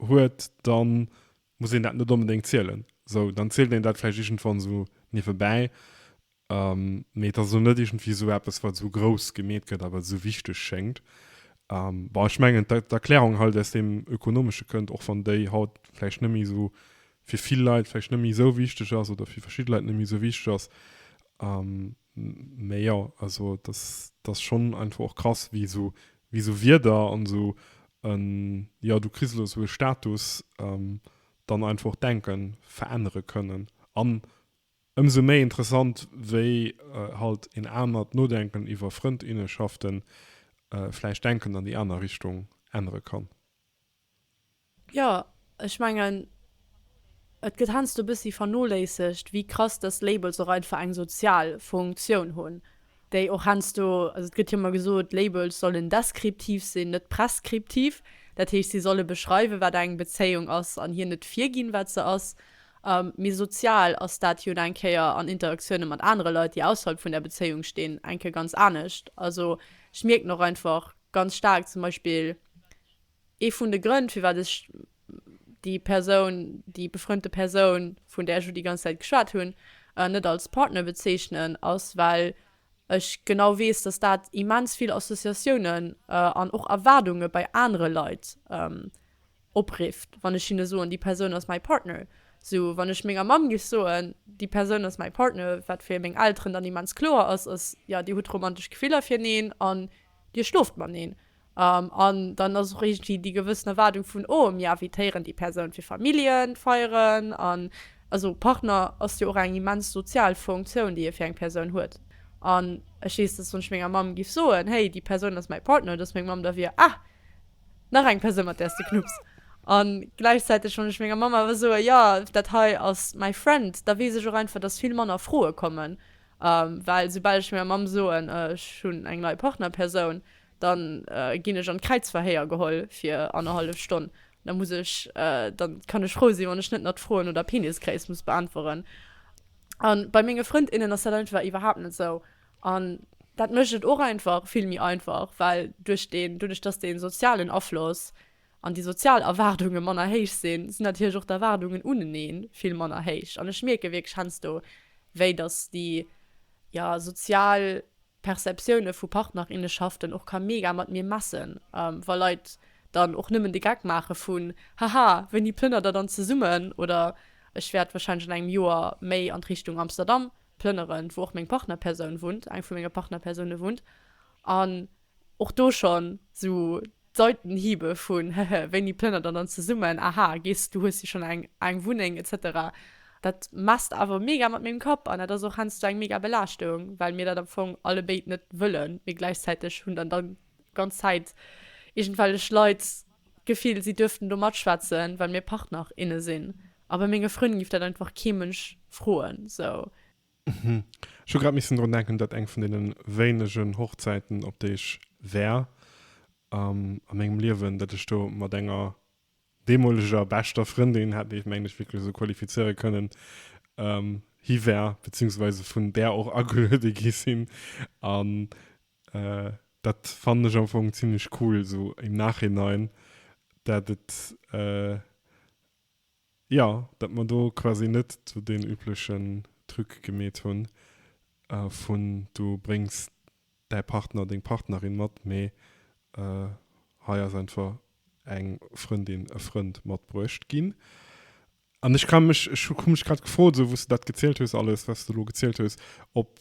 S1: huet, da muss een dat net onbedéngt zielen. Esou, dann zielt een dat vläicht iergendwann esou niewebäi. Mee et ass elo net iergendwéi esou eppes, wat esou grouss gemeet gëtt a wat esou wichteg schéngt. Bon, ech mengen, d'Erklärung hei, déi aus deem Ökonomesche kënnt, och wann déi haut vläicht net méi esou, fir vill Leit vläicht net méi esou wichteg ass oder fir verschidde Leit net méi esou wichteg ass. Mee jo, also et ass schonn einfach och krass, wéi esou, wéi esou Wierder an esou en, jo, du kriss elo esou e Status, dann einfach och d'Denke verännere kënnen. An Ëmsou méi interessant, wéi halt een anert Nodenken iwwer Frëndinnenschaften vläicht Denken an déi aner Richtung ännere kann.
S2: Jo, ech mengen, et gëtt heiansdo e bëssi vernoléissegt, wéi krass dass Labels och einfach eng sozial Funktioun hunn, déi och heiansdo, also et gëtt jo ëmmer gesot, Labels sollen deskriptiv sinn, net preskriptiv, dat heescht, si solle beschreiwen, wat eng Bezéiung ass, an hir net virginn, wat se ass. Méi sozial ass dat jo eng Kéier an Interaktioune mat anere Leit, déi ausserhalb vun der Bezéiung stinn, eng Kéier ganz anescht. Also ech mierken och einfach ganz staark zum Beispill, ee vun de Grënn, firwat ech déi Persoun, déi befrënnte Persoun, vun där ech elo déi ganz Zäit geschwat hunn, net als Partner bezeechnen, ass, well ech genau weess, dass dat immens vill Associatiounen an och Erwaardunge bei anere Leit oprifft wann ech hinne soen déi Persoun ass my partner, sou wann ech menger Mamm géif soen déi Persoun ass my partner, wat fir meng Elteren dann immens kloer ass, ass jo dir hutt romantesch Gefiller fir neen an dir schlooft mateneen an dann ass och iergendwéi déi gewëssen Erwaardung vun oh mir invitéieren déi Persoun fir Familljenfeieren an also Partner ass jo och eng immens sozial Funktioun déi ee fir eng Persoun huet an ech weess dass wann ech menger Mamm géif soen hey déi Persoun ass my partner dass meng Mamm da wier ah Nach eng Persoun mat der s de knupps. An gläichzäiteg wann ech menger Mamm awer soe jo dat hei ass my friend, da weess ech och einfach dass vill manner Froe kommen, well soubal ech menger Mamm soen ech hunn eng nei Partnerpersoun, dann ginn ech an d'Kräizverhéier geholl fir annerhallef Stonn. Da muss ech, da kann ech frou sinn wann ech net nach d'Froen no der Penisgréisst muss beäntweren. An bei menge Frënd innen ass dat einfach iwwerhaapt net sou. An dat mécht et och einfach vill méi einfach, well duerch deen, doduerch dass dee sozialen Afloss an déi sozial Erwaardunge manner héich sinn, sinn natierlech och d'Erwaardungen unenee vill manner héich. An ech mierke wierklech heiansdo, wéi dass déi, jo, sozial Perceptioune vu Partnerinneschaften och ka mega mat mir messen, wa Leit dann och nëmmen de Geck maache vun, Haha, wéini plënnert der dann zesummen? Oder, Ech wäert wahrscheinlech an engem Joer méi an d'Richtung Amsterdam plënneren, wou och meng Partnerpersoun wunnt, eng vu menge Partnerpersoune wunnt, an och do schonn sou d'Seitenhiebe vun, hehe, wéini plënnert der dann zesummen, aha, gees, du hues jo schonn eng eng Wunneng, etc. Dat messt awer mega mat mengem Kapp, an dat ass och heiansdo eng mega Belaaschtung, well mir dat am Fong allebéid net wëllen, mee gläichzäiteg hunn dann da ganz Zäit iergendwellech Leit, D'Gefill, si duerften do matschwätzen, well mir Partner, inne sinn. A bei menge Frënn giff dat einfach kee Mënsch froen, sou. Hm,
S1: ech hu grad missen drun denken, dat eng vun deenen wéinegen Hochzäiten, op déi ech war a mengem Liewen, dat ech do mat enger deemoleger beschter Frëndin, hat ee mengt ech wierklech esou qualifizéiere kënnen, hi war, beziehungsweise vun där och ageluede gi sinn. A Dat fannen ech am Fong zimlech cool esou im Nachhinein, dat et jo dat mer do quasi net esou deen üblechen Truc gemeet hunn vun du bréngs däi Partner, deng Partnerin mat, mee hei ass einfach eng Frëndin, e Frënd matbruecht ginn. An ech kann mech, ech hu mech grad gefrot, esou wou s de dat gezielt hues alles, wat s de elo gezielt hues, ob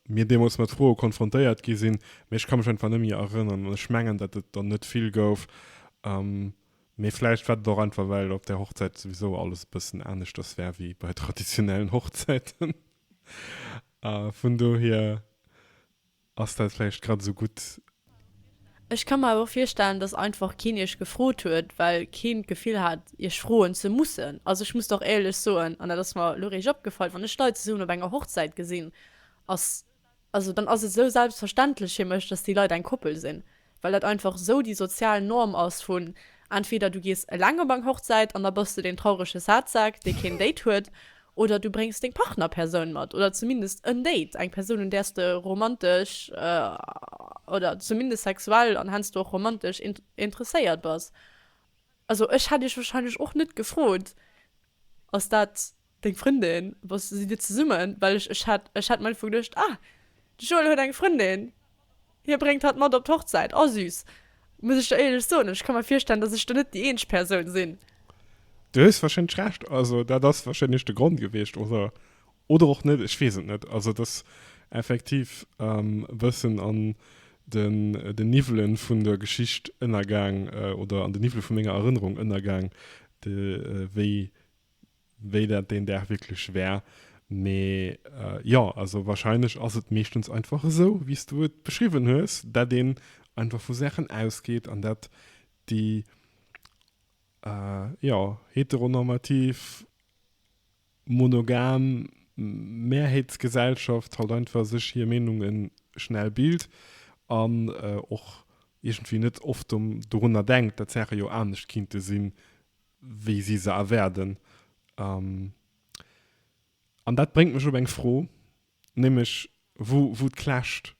S1: mir deemools mat Froe konfrontéiert gi sinn, mä ech ka mech einfach net méi erënnern. An ech mengen, datt et der net vill gouf. Mee vläicht war dat och einfach, well op där Hochzäit souwisou alles e bëssen aneschters war wéi bei traditionellen Hochzäiten. Vun dohier. Ass dat vläicht grad esou gutt? Ech
S2: ka mer awer virstellen, dass einfach keen iech gefrot huet, well keen d'Gefill hat, iech froen ze mussen. Also ech muss dach éierlech soen, an dat ass mer elo réischt opgefall, wann ech Leit zesummen op enger Hochzäit gesinn, ass, also dann ass et esou selbstverständlech fir mech, dass déi Leit eng Koppel sinn. well dat einfach esou déi sozial Norm ass vun entweder du gees eleng op eng Hochzäit an da bass de deen traurege Sadsack, dee keen Date huet, oder du bréngs deng Partnerpersoun mat, oder zumindest en Date, eng Persoun, un där s de romantesch oder zumindest sexuell an hensdo och romantesch interesséiert bass. Also ech hätt iech warscheinlech och net gefrot, ass dat. Deng Frëndin? Wa sidd dir zesummen? Well ech, ech hat, ech hat am Ufank geduecht, ah, de Joel huet eng Frëndin, hie bréngt hatt mat op d'Hochzäit. Oh süß. Muss ech der éierlech soen, ech ka mer virstellen, datt ech do net déi eenzeg Persoun sinn. Du hues
S1: warscheinlech Recht. Also dat ass warscheinlech de Grond gewiescht, oder, oder och net, ech weess et net. Also et ass effektiv e bëssen an den, den Niwwele vun der Geschicht ënnergaang, oder an de Niwwele vu menger Erënnerung ënnergaang, de, wéi wéi dat deen Dag wierklech war. Mee jo, also warscheinlech ass et meeschtens einfach esou, wéi s du et beschriwwen hues, dat een einfach vu Saachen ausgeet an dat déi, jo, heteronormativ, monogam Mehrheetsgesellschaft halt einfach sech hir Meenunge schnell bilt an och iergendwéi net oft dorunner denkt, dat d'Saache jo anescht kinnte sinn, wéi si se erwäerden. Um, an dat bréngt mech op eng Fro, nämlech wou, wou d'clasht.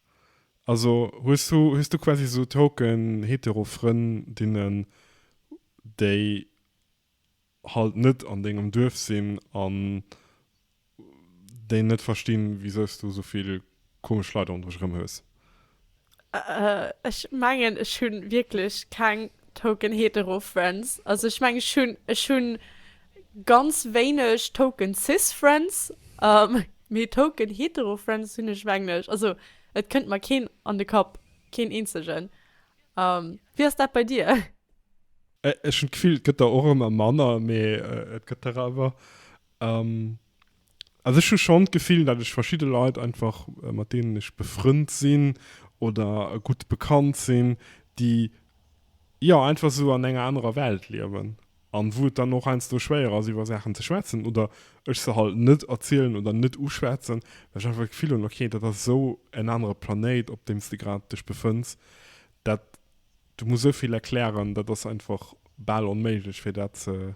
S1: Also hues du, hues du quasi esou token hetero Frëndinnen, déi halt net an dengem Duerf sinn an déi net verstinn wisous du souvill komesch Leit ronderech erëm hues. Ech
S2: mengen ech hu wierklech keng Token Hetero Friends, also ech mengen ech hu ech hu ganz wéineg Token Cis Friends, mee Token Hetero Friends hunn ech mengen ech, also et kënnt mer keen an de Kapp, keen eenzegen. Wéi ass dat bei dir? Ech
S1: hunn d'Gefill et gëtt der och ëmmer manner, mee et gëtt der awer. Also ech hu schonn d'Gefill, datt ech verschidde Leit einfach, mat deenen ech befrënnt sinn oder gutt bekannt sinn, déi jo einfach esou an enger anerer Welt liewen a wou et dann och heiansdo schwéier ass iwwer Saachen ze schwätzen oder ech se halt net erzielen oder net uschwätzen, well ech einfach d'Gefill hunn, ok dat ass esou en anere Planéit op deem s de grad dech befënns, dat du muss esou vill erklären, dat ass einfach bal onméiglech fir dat ze.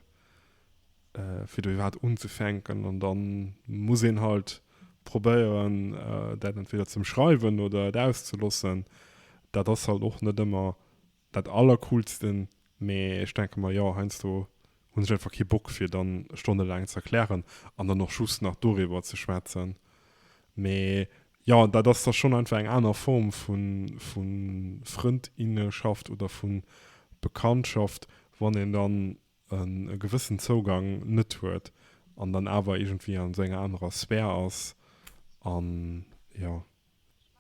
S1: fir do iwwerhaapt unzefänken an dann muss een halt probéieren äh, dat entweder zum schreiwen oder et auszelossen dat ass halt och net ëmmer dat allercoolsten mee ech denke mer jo heiansdo hunn ech einfach kee Bock fir dann stonnelaang ze erklären an dann och just nach doriwwer ze schwätzen mee jo dat ass da schonn einfach eng aner Form vun vun Frëndinneschaft oder vun Bekanntschaft wann een dann en e gewëssen Zougang net huet an dann awer iergendwéi an esou enger anerer Sphär ass an jo.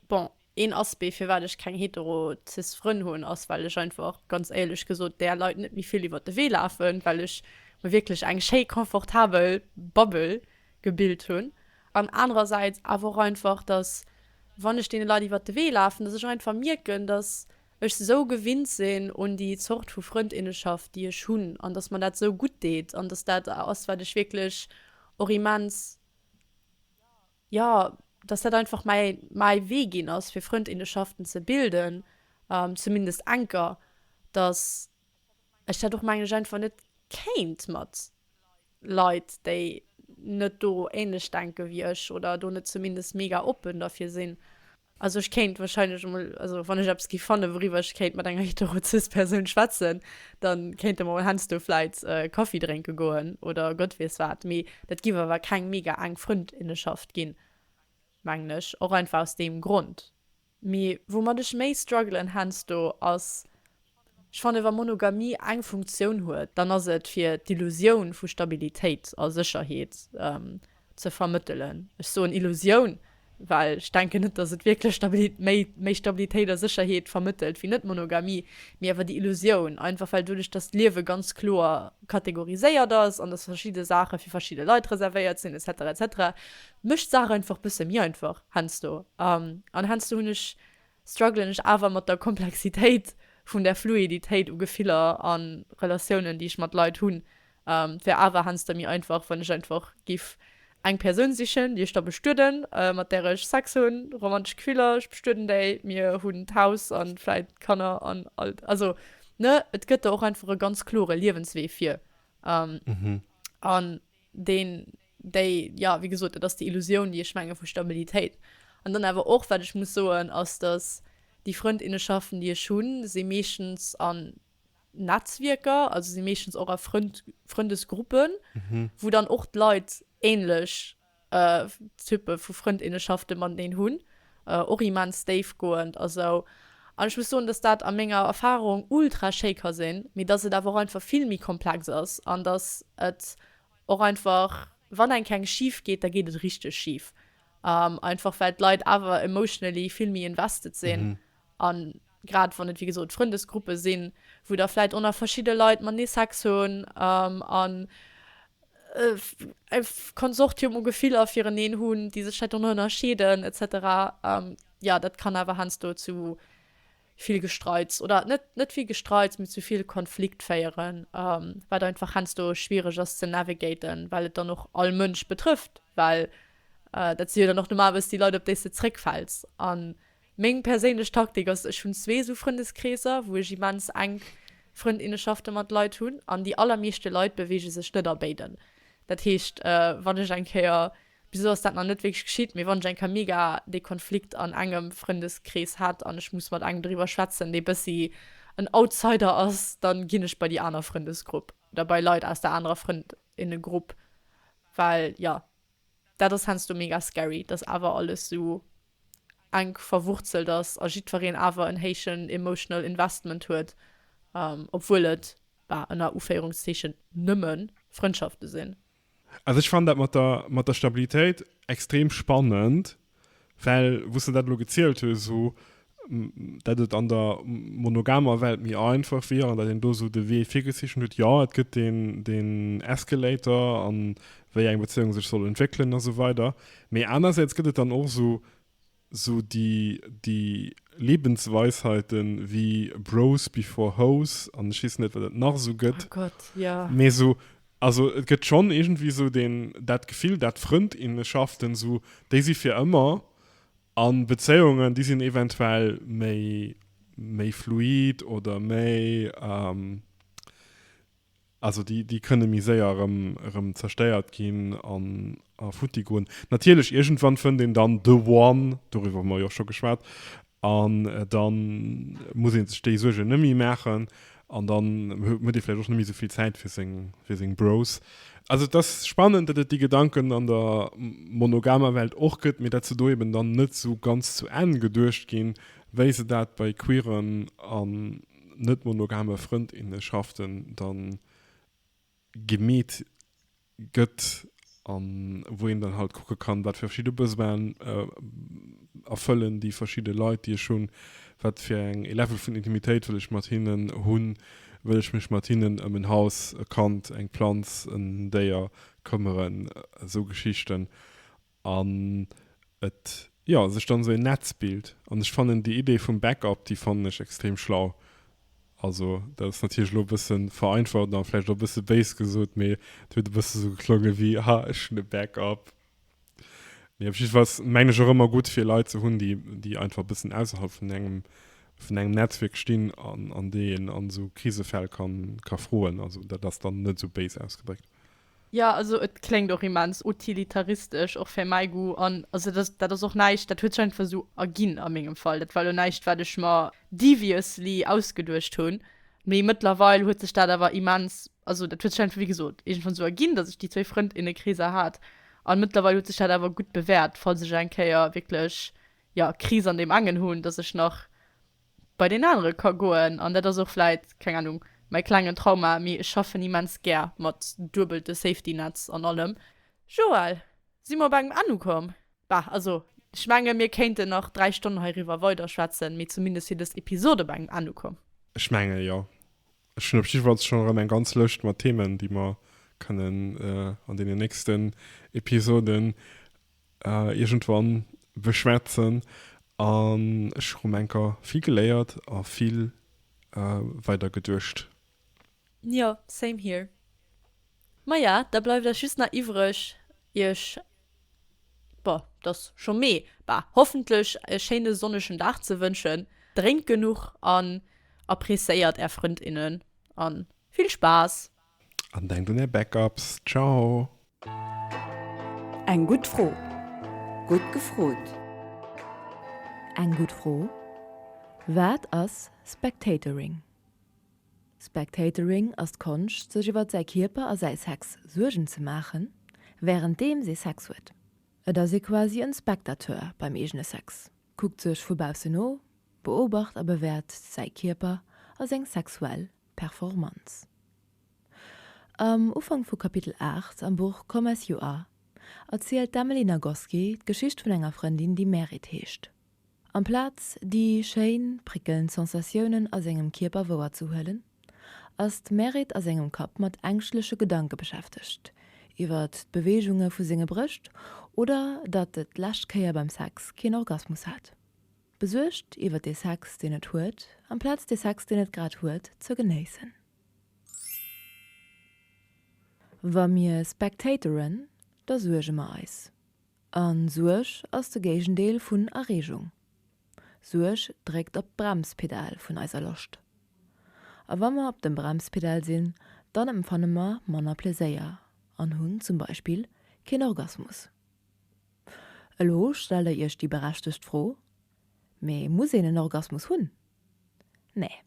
S1: Bon,
S2: een Aspect firwat ech keng hetero, cis Frënn hunn ass well ech einfach ganz éierlech gesot där Leit net méi vill iwwert de Wee lafen, well ech mer wierklech eng schéi confortabel Bubble gebilt hunn an anerersäits awer och einfach dass wann ech deene Leit iwwert de Wee lafen, dass ech einfach mierken dass ech esou gewinnt sinn un déi Zort vu Frëndinneschaft déi ech hunn an dass mer dat esou gutt deet an dass dat ass wat ech wierklech och immens jo dass dat einfach mäi mäi Wee ginn ass fir Frëndinneschaften ze bilden, zumindest enker, dass ech dat och mengen ech einfach net kéint mat Leit déi net do änlech denke wéi ech oder do net zumindest mega oppen derfir sinn. Also ech kéint wahrscheinlech emol, also wann ech eppes géif fannen, wouriwwer ech kéint mat enger hetero-cis Persoun schwätzen, da kéinte mer heiansdo vläit Kaffi drénke goen oder Gott weess wat. Mee dat géif awer keng mega enk Frëndinnenschaft ginn, mengen ech. Och einfach aus deem Grond. Mee woumat ech méi struggelen heiansdo ass, Ech fannen, wa Monogamie eng Funktioun huet, dann ass et, fir d'Illusioun vu Stabilitéit a Sécherheet ze vermëttelen. Ech soen Illusioun, well ech denken net, dass et wierklech méi Stabilitéit a Sécherheet vermëttelt wéi Net-Monogamie, mee awer déi Illusioun, einfach well doduerch, dass d'Liewe ganz kloer kategoriséiert ass an dass verschidde Saache fir verschidde Leit reservéiert sinn et cetera et cetera mécht d'Saach einfach e bësse méi einfach heiansdo. An heiansdo hunn ech strugglen ech awer mat der Komplexitéit vun der Fluiditéit u Gefiller a Relatiounen, déi ech mat Leit hunn. Et wär awer heiansdo méi einfach, wann ech einfach géif eng Persoun sichen, déi ech da bestueden, mat där ech Sex hunn, romantesch Gefiller, ech bestueden déi, mir hunn d'Haus a vläicht d'Kanner an all. Also, ne, et gëtt do och einfach e ganz klore Liewenswee vir. An deen, déi, jo, wéi gesot, dat ass déi Illusioun, déi ech menge vu Stabilitéit. An dann awer och, wat ech muss soen, ass, datt déi Frëndinnenschaften, déi ech hunn, si meeschtens an Netzwierker, also si meeschtens och a Frënd, Frëndesgruppen, wou dann och d'Leit änlech Typpe vu Frëndinnenschafte mateneen hunn. och immens déifgoend a sou, an ech muss soen, dass dat a menger Erfahrung ultra schéi ka sinn, mee dass et awer och einfach vill méi komplex ass an dass et och einfach, wann eng keng schif geet, da geet et richteg schif, einfach well d'Leit awer emotionally vill méi invested sinn an. Grad wann et, wéi gesot, Frëndesgruppe sinn, wou da vläit och nach verschidde Leit matenee Sex hunn an e Konsortium u Gefiller fireneen hunn, déi sech vläicht och nach ënnerscheeden et cetera. Jo, dat kann awer heiansdo zu vill Gestreits oder net vill Gestreits, mee zu vill Konflikt féieren, wat einfach heiansdo schwiereg ass ze navigaten, well et dann och all Mënsch betrëfft. Well dat si jo dann och normalerweis déi Leit, op déi s de zeréckfäls. Meng perséinlech Taktik ass, ech hunn zwee esou Frëndeskreeser, wou ech immens enk Frëndinneschafte mat Leit hunn, an déi allermeeschte Leit beweege sech net a béiden. Dat heescht, wann ech eng Kéier, bis elo ass dat nach net wierklech geschitt, mee wann ech eng Kéier mega dee Konflikt an engem Frëndeskrees hat an ech muss mat engem driwwer schwätzen, dee bëssi en Outsider ass, da ginn ech bei déi aner Frëndesgrupp oder bei Leit aus der anerer Frëndinnegrupp, well, jo, dat ass heiansdo mega scary, dass awer alles esou enk verwurzelt ass a jiddwereen awer en héichen emotional investment huet, obwuel et, bah, ënner Uféierungszeechen, nëmme Frëndschafte sinn. Also ech fannen dat
S1: mat der, mat der Stabilitéit extrem spannend, well, wou s de dat elo gezielt hues, esou datt et an der monogamer Welt méi einfach wier an datt een do esou de Wee virgezeechent huet, jo, et gëtt deen Escalator a wéi eng Bezéiunge sech soll entwéckelen a sou weider. Mee anersäits gëtt et dann och esou esou déi déi Lebensweisheiten wéi Bros before Hoes an ech weess net wat et nach esou gëtt. Oh Gott, jo.
S2: Mee esou,
S1: also et gëtt schonn iergendwéi esou deen dat Gefill dat Frëndinneschaften esou, déi si fir ëmmer an Bezéiungen déi sinn eventuell méi méi fluid oder méi. Also déi, déi kënne méi séier erëm, erëm zerstéiert ginn an, a futti goen. Natierlech, iergendwann fënnt een dann the one, doriwwer hu mer jo och scho geschwat, an da muss ee sech déi Suergen net méi maachen an dann huet ee vläicht och net méi esou vill Zäit fir seng, fir seng Bros. Also et ass spannend, datt et déi Gedanken an der monogamer Welt och gëtt, mee datt se do eben dann net esou ganz zu Enn geduecht ginn, wéi se dat bei queeren a net monogame Frëndinneschaften dann gemeet gëtt an wou een dann halt kucke kann wat fir verschidde Besoinen erfëllen déi verschidde Leit déi ech hunn, wat fir eng ee Level vun Intimitéit wëll ech mat hinnen hunn, wëll ech mech mat hinnen ëm en Haus, e Kand, eng Planz, en Déier këmmeren, esou Geschichten An et, jo, sech dann esou een Netz bilt. An ech fannen déi Idee vum Backup, déi fannen ech extrem schlau. Also, dat ass natierlech elo e bësse vereinfacht a vläicht och e bësse béis gesot, mee et huet e bësse esou geklongen, ewéi, Ha, ech hunn e Backup. Mee op jiddefalls mengen ech och ëmmer gutt, fir Leit ze hunn, déi, déi einfach e bëssen ausserhalb vun engem, vun engem Netzwierk stinn an, an déi een an esou Krisefäll kann, ka froen. Also, dat ass dann net esou béis ausgedréckt. Ja, also
S2: et kléngt och immens utilitaristesch, och fir mäi Goût. An also dat, dat ass och näischt, dat huet sech einfach esou erginn a mengem Fall. Dat war elo näischt, wat ech mer deviously ausgeduecht hunn. Mee mëttlerweil huet sech dat awer immens, also dat huet sech einfach, wéi gesot, iergendwann esou erginn, dass ech déi zwéi Frëndinnekreeser hat. An mëttlerweil huet sech dat awer gutt bewäert, falls ech eng Kéier wierklech, ja, Kris an deem engen hunn, dass ech nach. bei deen anere ka goen. An dat ass och vläit, keng Anung, mäi klengen Trauma, mee ech schaffen immens gär mat duebelte Safety-Netz an allem. Joël, si mer op engem Enn ukomm? Bah, also ech menge mir kéinten nach dräi Stonnen heiriwwer weiderschwätzen, mee zumindest wier dës Episod op engem Enn ukomm. Ech menge jo.
S1: Ech hunn op jiddwerfalls schonn erëm eng ganz Lëscht mat Themen, déi mer kënnen an deenen nächsten Episoden Iergendwann beschwätzen an ech hu enker vill geléiert a vill weider geduecht. Jo,
S2: same here. Maja, da bleift eis just nach iwwreg iech, boah, et ass scho Mee, bah, hoffentlech e schéine sonnegen Dag ze wënschen. Drénkt genuch an appreciéiert är Frënd, innen a vill Spaass! An denkt un
S1: är Backups. Ciao!
S3: Eng gutt Fro. Gutt gefrot. Eng gutt Fro. Wat ass Spectatoring? Spectatoring ass d'Konscht, sech iwwer säi Kierper a säi Sex Suergen ze maachen, wärenddeems ee Sex huet. Et ass ee quasi en Spectateur beim eegene Sex, kuckt sech vu baussen no, beobacht a bewäert säi Kierper a seng sexuell Performanz. Am Ufank vu Kapitel 8 am Buch Come As You Are erzielt d'Emily Nagoski d'Geschicht vun enger Frëndin, déi Merit heescht. Amplaz déi schéin, prickelnd Sensatiounen a sengem Kierper wouer ze huelen, ass d'Merit a sengem Kapp mat ängschtleche Gedanke beschäftegt, iwwert d'Beweegunge vu senge Brëscht oder datt et d'lescht Kéier beim Sex keen Orgasmus hat. Besuergt iwwer dee Sex, deen et huet, amplaz dee Sex, deen et grad huet, ze genéissen. Wa mir spectatoren, da suerge mer eis. A Suerg ass de Géigendeel vun Erreegung. Suerg dréckt op d'Bremspedal vun eiser Loscht. A wa mer op dem Bremspedal sinn, dann empfanne mer manner Pleséier an hunn zum Beispill keen Orgasmus. Elo stellt der iech déi berechtegt Fro, Mee muss een en Orgasmus hunn? Nee.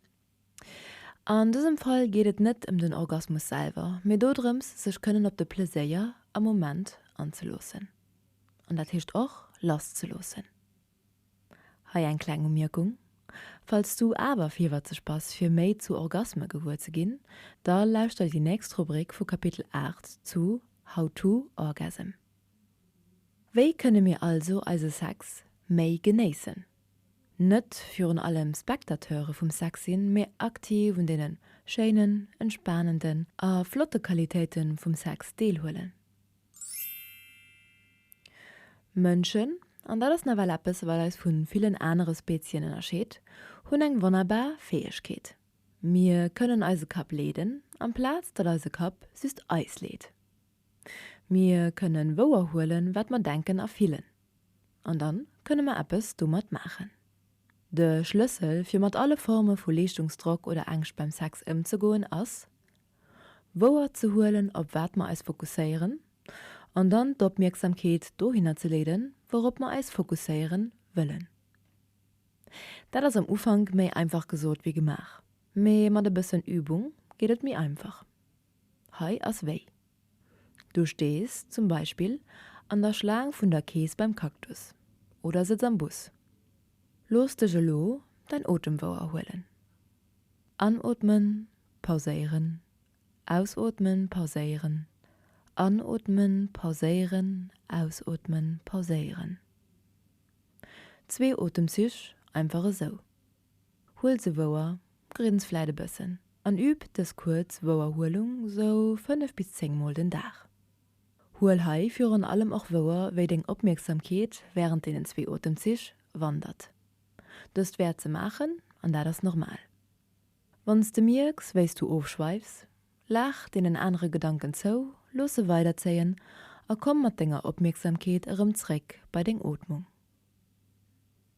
S3: An dësem Fall geet et net ëm den Orgasmus selwer, mee dodrëms, sech kënnen op de Pleséier am Moment anzeloossen. An dat heescht och lasszeloossen. Hei eng kleng Umierkung, Falls du awer virwëtzeg bass fir méi zu Orgasme gewuer ze ginn, da lauschter déi nächst Rubrik vu Kapitel 8 zu How to Orgasm. Wéi kënne mir also eise Sex méi genéissen? Net virun allem Spectateure vum Sex sinn, mee aktiv un deene schéinen, entspanenden a flotte Qualitéite vum Sex deelhuelen. Mënschen, an dat ass nawell eppes wat eis vu villen anere Spezien ënnerscheet, hunn eng wonnerbar Fäegkeet, Mir kënnen eise Kapp leeden, amplaz datt eise Kapp just eis leet. Mir kënnen wouerhuelen, wat mer denken a fillen. An dann kënnen mer eppes domat maachen. De Schlëssel fir mat alle Forme vu Leeschtungsdrock oder Ängscht beim Sex ëmzegoen ass, wouer ze huelen, op wat mer eis fokusséieren an dann d'Opmierksamkeet dohinner ze leeden, wourop mer eis fokusséieren wëllen. Dat ass am Ufank méi einfach gesot wéi gemaach, mee mat e bëssen Übung geet et méi einfach. Hei ass wéi. Du stees zum Beispill an der Schlaang vun der Kees beim Cactus oder sëtz am Bus. Looss dech elo däin Otem wouerhuelen. Anootmen, pauséieren, ausootmen, pauséieren, anootmen, pauséieren, ausootmen, pauséieren. Zwee Otemzich einfach esou. Huel se wouer, grins vläit e bëssen an üb dës kuerz Wouerhuelung sou 5 bis 10 mol den Dag. Huel hei virun allem och wouer, wéi deng Opmierksamkeet wärend deenen zwee Otemzich wandert. Dëst wäert se maachen an dat ass normal. Wann s de mierks, wéi s du ofschweifs, laach deenen anere Gedanken zou, looss se weiderzéien a komm mat denger Opmierksamkeet erëm zréck bei deng Ootmung.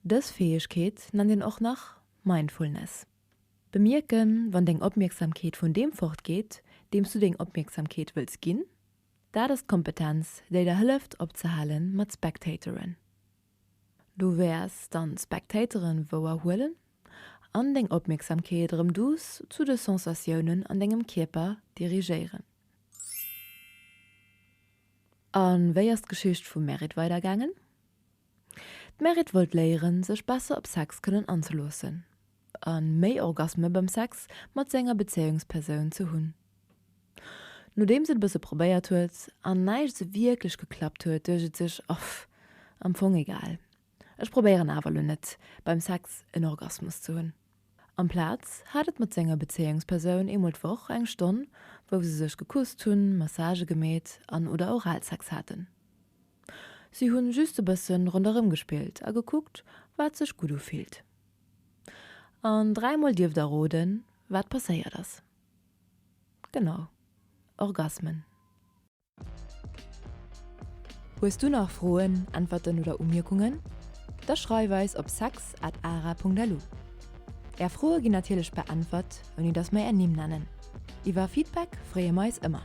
S3: Dës Fäegkeet nennt een och nach Mindfulness. Bemierken, wann deng Opmierksamkeet vun deem fortgeet, deems du deng Opmierksamkeet wëlls ginn, dat ass d'Kompetenz, déi der hëlleft opzehale mat spectatoren. Du wäers dann d'Spectatoren wouer huelen an deng Opmierksamkeet erëm douce zu de Sensatiounen an dengem Kierper dirigéieren. A wéi ass d'Geschicht vum Merit weidergaangen? D'Merit wollt léieren, sech besser op Sex kënnen anzeloossen a méi Orgasme beim Sex mat senger Bezéiungspersoun ze hunn. Nodeems et e bësse probéiert huet an näischt esou wierklech geklappt huet, duecht et sech, Off, am Fong egal, ech probéieren awer elo net beim Sex en Orgasmus ze hunn. Amplaz hat et mat senger Bezéiungspersoun eemol d'Woch eng Stonn, wou se sech gekusst hunn, Massage gemeet an oder Oralsex haten. Si hunn just e bëssen ronderëm gespillt a gekuckt, wat sech gutt ufillt. An dräimol dierft der roden, wat passéiert ass. Genau, Orgasmen. Hues du nach Froen, Äntwerten oder Umierkungen? Da schreif eis op sex at ara Punkt lu. Är Froe ginn natierlech beäntwert, ouni datt mer är Nimm nennen. Iwwer Feedback freeë mer eis ëmmer.